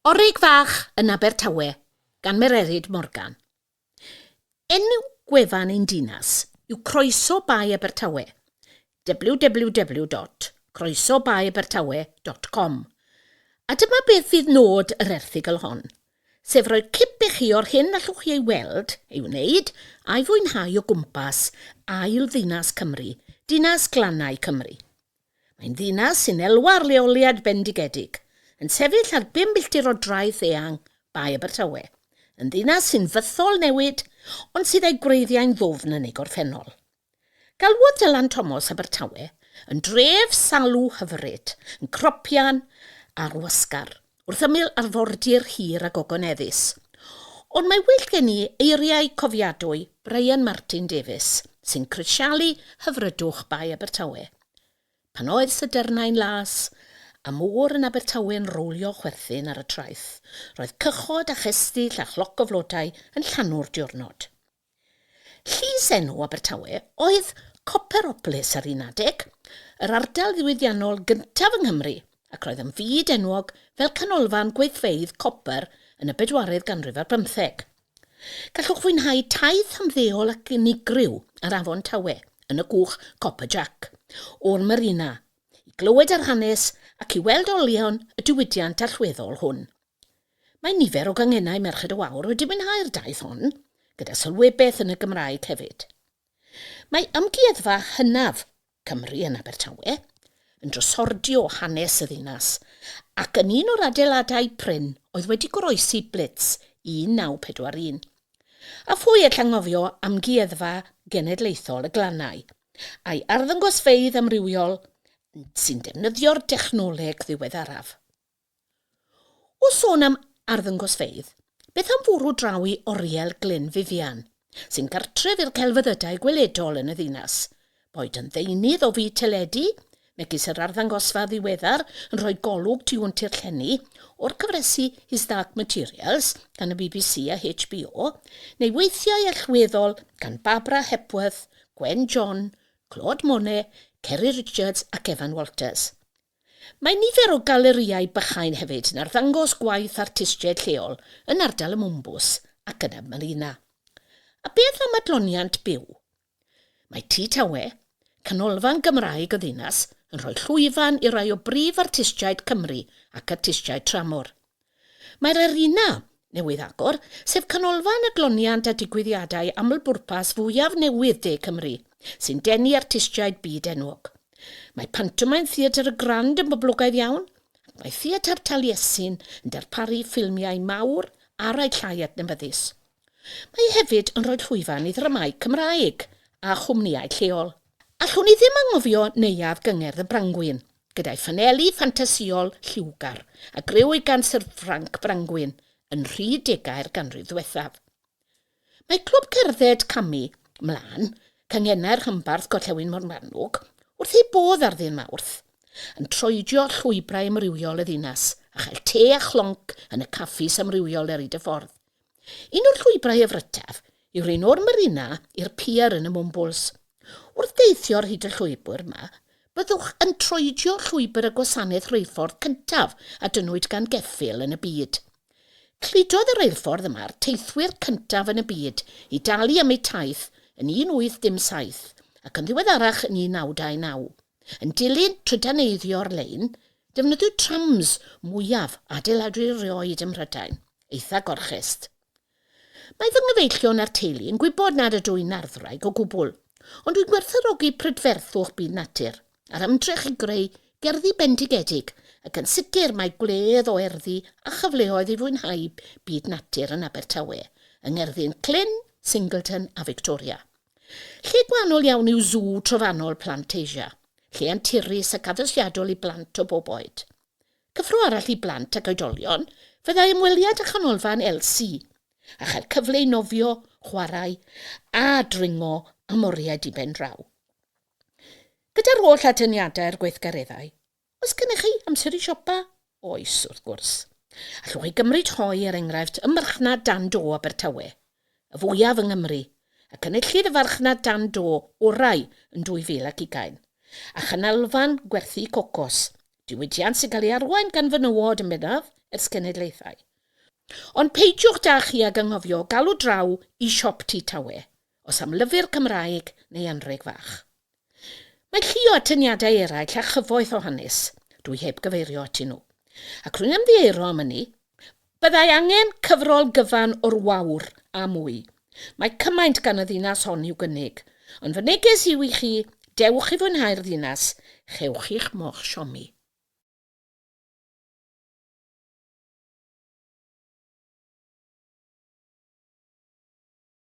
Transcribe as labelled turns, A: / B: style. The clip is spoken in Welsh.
A: Orig Fach yn Abertawe gan Mererid Morgan. Enw gwefan ein dinas yw Croeso Bae Abertawe, www.croesobaeabertawe.com, a dyma beth fydd nod yr erthygl hon, sef rhoi cip i chi o'r hyn allwch chi ei weld, ei wneud a'i fwynhau o gwmpas ail ddinas Cymru, dinas glannau Cymru. Mae'n ddinas sy'n elwa ar leoliad bendigedig, yn sefyll ar bum milltir o draeth eang Bae Abertawe, yn ddinas sy'n fythol newid ond sydd â'i gwreiddiau'n ddwfn yn ei gorffennol. Galwodd Dylan Tomos Abertawe yn dref salw hyfryd, yn cropian ar wasgar. wrth ymyl arfordir hir a gogoneddus. Ond mae well gen i eiriau cofiadwy Brian Martin Davies, sy'n crisialu hyfrydwch Bae Abertawe. Pan oedd sydernau'n las, a môr yn Abertawe'n rowlio chwerthin ar y traeth, roedd cychod a chestyll a chloc o flodau yn llanw'r diwrnod. Llysenw Abertawe oedd Copperopolis ar un adeg, yr ardal ddiwydiannol gyntaf yng Nghymru, ac roedd yn fyd enwog fel canolfan gweithfeydd copr yn y bedwaredd ganrif ar bymtheg. Gallwch fwynhau taith ymddeol ac unigryw ar Afon Tawe yn y gwch Copper Jack o'r marina i glywed yr hanes ac i weld olion y diwydiant allweddol hwn. Mae nifer o gangennau Merched y Wawr wedi mwynhau'r daith hon, gyda sylwebaeth yn y Gymraeg hefyd. Mae Amgueddfa hynaf Cymru yn Abertawe yn drysordio hanes y ddinas ac yn un o'r adeiladau prin oedd wedi goroesi Blitz 1941. A phwy all anghofio Amgueddfa Genedlaethol y Glannau a'i arddangosfeydd amrywiol sy'n defnyddio'r dechnoleg ddiweddaraf. O sôn am arddangosfeydd, beth am fwrw draw i Oriel Glyn Vivian, sy'n gartref i'r celfyddydau gweledol yn y ddinas? Boed yn ddeunydd o fyd teledu, megis yr arddangosfa ddiweddar yn rhoi golwg tu hwnt i'r llenni o'r cyfresi His Dark Materials gan y bbc a HBO, neu weithiau allweddol gan Barbara Hepworth, Gwen John, Claude Monet, Ceri Richards ac Evan Walters. Mae nifer o galerïau bychain hefyd yn arddangos gwaith artistiaid lleol yn ardal y Mwmbws ac yn y Malina. A beth am adloniant byw? Mae Tŷ Tawe, canolfan Gymraeg y ddinas, yn rhoi llwyfan i rai o brif artistiaid Cymru ac artistiaid tramor. Mae'r arena newydd agor, sef canolfan adloniant a digwyddiadau aml-bwrpas fwyaf newydd De Cymru, sy'n denu artistiaid byd enwog. Mae Pantomaim Theatr y Grand yn boblogaidd iawn, ac mae Theatr Taliesin yn darparu ffilmiau mawr ar eu llai adnabyddus. Mae hefyd yn rhoi llwyfan i ddramâu Cymraeg a chwmnïau lleol. Allwn i ddim anghofio Neuadd Gyngerdd y Brangwyn, gyda'i ffanelu ffantasïol lliwgar a griw gan Syr Ffranc Frangwyn yn nhri degau'r ganrif ddiwethaf. Mae Clwb Cerdded Camu 'Mlaen, Canghennau'r Rhanbarth Gorllewin Morgannwg, wrth eu bodd ar Ddydd Mawrth, yn troedio llwybrau amrywiol y ddinas a chael te a chlonc yn y caffis amrywiol ar hyd y ffordd. Un o'r llwybrau a frytaf yw'r un o'r marina i'r pier yn y Mwmbwls. Wrth deithio ar hyd y llwybr yma, byddwch yn troedio llwybr y gwasanaeth reilffordd cyntaf a dynnwyd gan geffyl yn y byd. Cludodd y reilffordd yma'r teithwyr cyntaf yn y byd i dalu am eu taith yn 1817 ac yn ddiweddarach yn 1929. Yn dilyn trydaneiddio'r lein, defnyddiwyd trams mwyaf adeiladwy erioed ym Mhrydain, eitha Gorchest. Mae fy nghyfeillion a'r teulu yn gwybod nad ydw i'n arddwraig o gwbl, ond dwi'n gwerthfawrogi prydferthwch byd natur a'r ymdrech i greu gerddi bendigedig ac yn sicr mae gwledd o erddi a chyfleoedd i fwynhau byd natur yn Abertawe, yng ngerddi'n Clyn, Singleton a Victoria. Lle gwahanol iawn yw sw trofannol Plant Asia, lle anturus ac addysgiadol i blant o bob oed. Cyffro arall i blant ac oedolion fyddai ymweliad â Chanolfan LC, a chael cyfle i nofio, chwarae a dringo am oriau diben draw. Gyda'r holl atyniadau a'r gweithgareddau, Oes gennych chi amser i siopa? Oes, wrth gwrs. Allwch chi gymryd rhoi, er enghraifft, y marchnad dan do Abertawe, y fwyaf yng Nghymru, ac enillid y farchnad dan do orau yn 2020, a chanolfan gwerthu cocos, diwydiant sy'n cael ei arwain gan fenywod yn bennaf, ers cenedlaethau. Ond peidiwch da chi ag anghofio galw draw i siop Tŷ Tawe, os am lyfr Cymraeg neu anrheg fach. Mae llu o atyniadau eraill a chyfoeth o hanes, dw i heb gyfeirio atyn nhw. Ac rwy'n ymddieuro am ynni, byddai angen cyfrol gyfan o'r wawr, a mwy. Mae cymaint gan y ddinas hon i'w gynnig. Ond fy neges yw i chi, dewch i fwynhau'r ddinas, chewch chi'ch moch siomi.